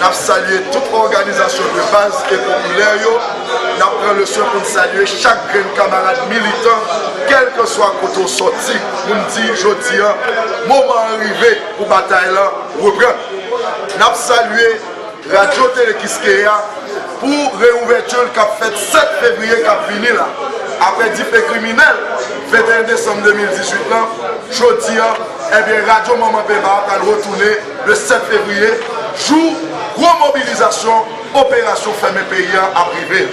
Nap salye tout òganizasyon de baz e popilè yo, nap pran le swen pou n salye chak grenn kamarad militan kèlkanswa kote w sòti pou n di jodi an moman an rive pou batay lan reprann. Nap salye Radyo Tele Kiskeya pou reouvèti l kap fèt 7 fevriye kap vini la. Aprè dife kriminèl 21 desanm 2018 lan, jodi an, ebyen radyo manman Peba a pral retounen. Le 7 fevriye, jou gwo mobilizasyon operasyon fèmen peyi a ap rive.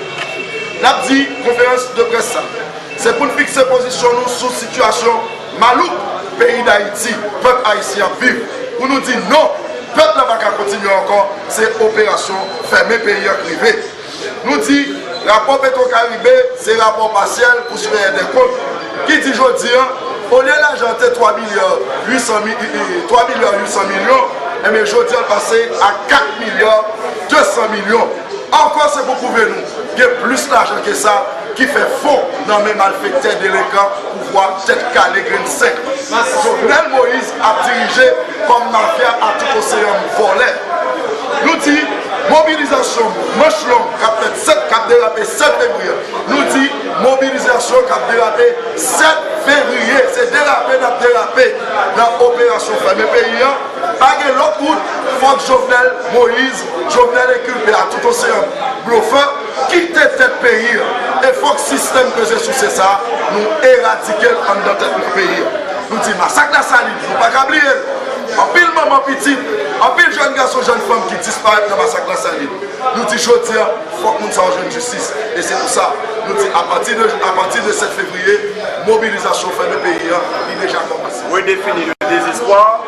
N ap di konferans de près sa se pou n fikse pozisyon nou sou sitiyasyon malouk peyi Dayiti, pèp ayisyen ap viv, pou nou di non, pèp la pa ka kontinye ankò, se operasyon fèmen peyi a k rive. Nou di, rapò Petrocaribe se rapò pasyèl pou siveyè dè kont ki di jodi an, olye lajan an te 3 milya 800 milyon, enben jodi an l pase a 4 milya 200 milyon. Ankò se pou pwouve nou gen plis lajan ke sa. ki fè fo nan men malfektè delenkan pouvwa tèt kale grenn sèk Jovenel Moïse ap dirije kòm mafya a tout oseyan vòlè Nou di mobilizasyon manch long kap fèt 7 kap derape 7 fevriye Nou di mobilizasyon kap derape 7 fevriye se derape nap derape nan operasyon fèmen peyi an pa gen lòt wout fòk Jovenel Moïse Jovenel enkulpe a tout oseyan blofè. Kit te fèt peyi an e fòk sistèm peze souse sa a nou eradike l anndan tèt nou peyi an. Nou di masak Lasalin nou pa ka bliye l. Anpil manman pitit, anpil jèn gason jèn fanm ki disparèt nan masak Lasalin. Nou di jodi a fòk moun sa yo jwenn jistis e se pou sa nou di apati de apati de 7 fevriye mobilizasyon fèmen peyi an li deja kòmanse. Redefini le désespoir.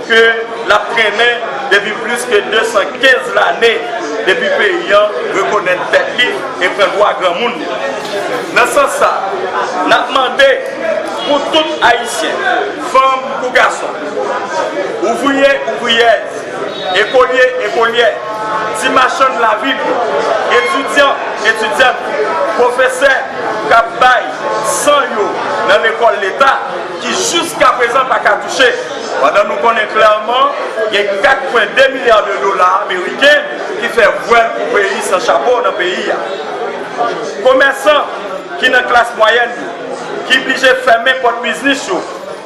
ke l ap trennen depi plis ke 215 lane depi peyi an rekonèt tèt li e pran dwa granmoun li. Nan sans sa, n ap mande pou tout Ayisyen, fanm kou gason, ouvriye, ouvriyèz, ekolye, ekolyè, ti machann lavil yo, etidyan, etidyant, pwofesè k ap bay san yo nan lekòl Leta ki jiskaprezan pa ka touche, Pandan nou konnen klèman gen 4 pwen 2 milya de dola ameriken ki fè vwèl pou peyi san chapo nan peyi a. Komèsan ki nan klas mwayèn yo ki blije fèmen pòt biznis yo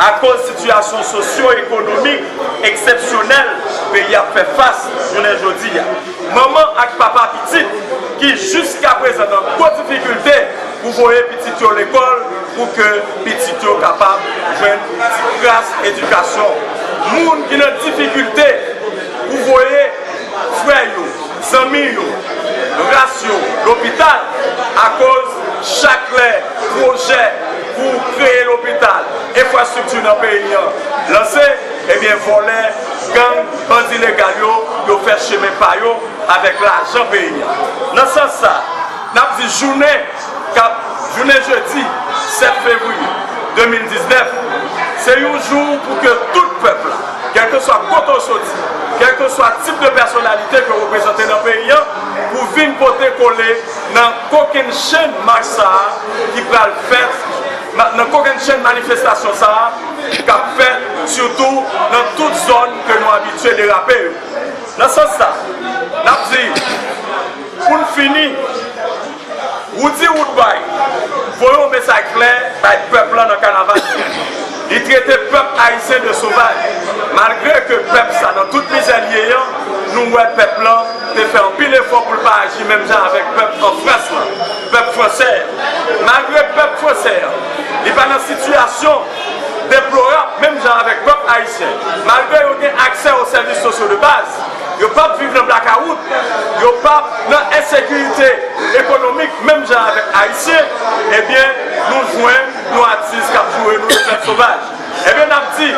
akoz sitiyasyon sosyo ekonomik eksepsyonèl peyi ap fè fas jounen jodi a. Manman ak papa pitit ki jiskaprezan nan gwo difikilte. pou voye pitit yo lekòl pou ke pitit yo kapab jwenn ti kras edikasyon. Moun ki nan difikilte pou voye frè yo, zanmi yo, ras yo lopital akoz chak lè pwojè pou kreye lopital, enfrastrikti nan peyi an lanse, ebyen vòlè, gang, bandi legal yo, yo fè chemen pa yo avèk lajan peyi an. Nan sans sa. N ap di jounen k ap jounen jedi 7 fevriye 2019 se yon jou pou ke tout pèp la, kèlkeswa kote w soti, kèlkeswa tip de pèsonalite ke w reprezante nan peyi an, pou vin pote kole nan kokennchenn mach sa a ki pral fèt, nan kokennchenn manifestasyon sa a k ap fèt sitou nan tout zòn ke nou abitye derape yo. Nan sans sa, n ap di. Pou n fini, Roody Woodbay voye yon mesaj klè bay pèp lan nan kanaval li a. Li trete pèp ayisyen de sovaj, malgre ke pèp sa nan tout mizè li ye an, nou wè pèp lan te fè anpil efò pou l pa aji menm jan avèk pèp an Frans lan, pèp fransè an. Malgre pèp fransè an, li pa nan sitiyasyon deplorab menm jan avèk pèp ayisyen, malgre yo gen aksè o sèvis sosyo de baz. yo pap viv nan blakawout, yo pap nan ensekirite ekonomik menm jan avèk Ayisyen, ebyen nou jwenn yon atis kap joure nou yon fèt sovaj. Ebyen nap di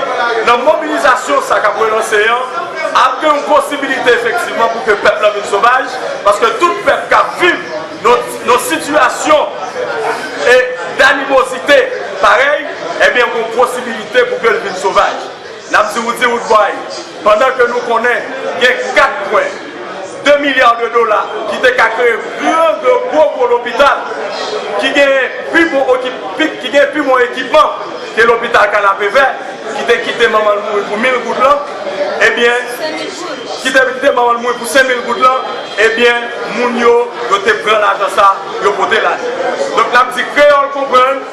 nan mobilizasyon sa kap relanse an, ap gen yon posibilite efektivman pou ke pèp lan vin sovaj, paske tout pèp kap viv nan sitiyasyon e danimozite parèy, ebyen gon posibilite pou ke l vin sovaj. Nap di ou di wout bway. Pandan ke nou konnen gen 4 pwen 2 milya de dola ki te ka kreye gran de gwo gwo lopital ki gen pi bon okip, ki gen pi bon ekipman ke lopital Kanapevè ki te kite manman l mouri pou 1000 goud lan ebyen, ki te kite manman l mouri pou 5000 goud lan ebyen moun yo, yo te pran lajan sa yo pote l ale. Donk n ap di kreyòl konprann.